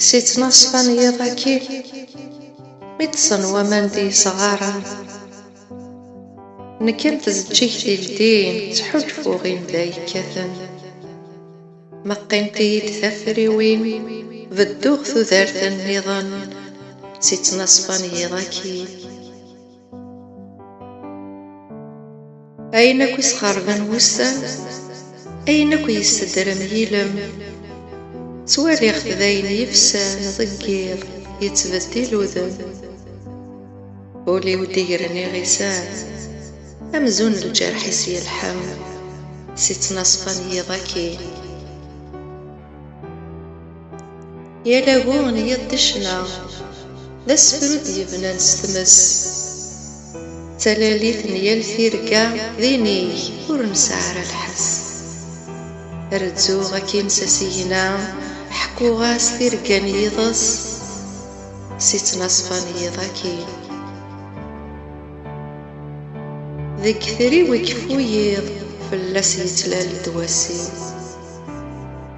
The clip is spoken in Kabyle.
Si ttnaṣfa n yiḍ akki, mi ṭṭṣen waman d yesɣaren, nekk am tzeǧǧigt ildin ttḥulfuɣ i nnda yekkaten, ma qqint-iyi-d tafriwin bedduɣ tudert nniḍen, si ttnaṣfa n yiḍ akki. Ayen akk isxerben wussan, ayen akk yessedrem yilem, ttwaliɣ-t d ayen yefsan deg yiḍ yettbeddil udem. Ul-iw d-igren iɣisan, amzun lǧerḥ-is yelḥem si ttnaṣfa n yiḍ akkin. Yal agu n yiḍ d ccna, d asefru d-yebnan s tmes. D talalit n yal tirga d inig ur nesɛi ara lḥess. Rezzuɣ akkin s asigna, ḥekkuɣ-as tirga n yiḍes si ttnaṣfa n yiḍ akkin. Deg yetri-w ikeffu yiḍ, fell-as yettlal-d wass-iw.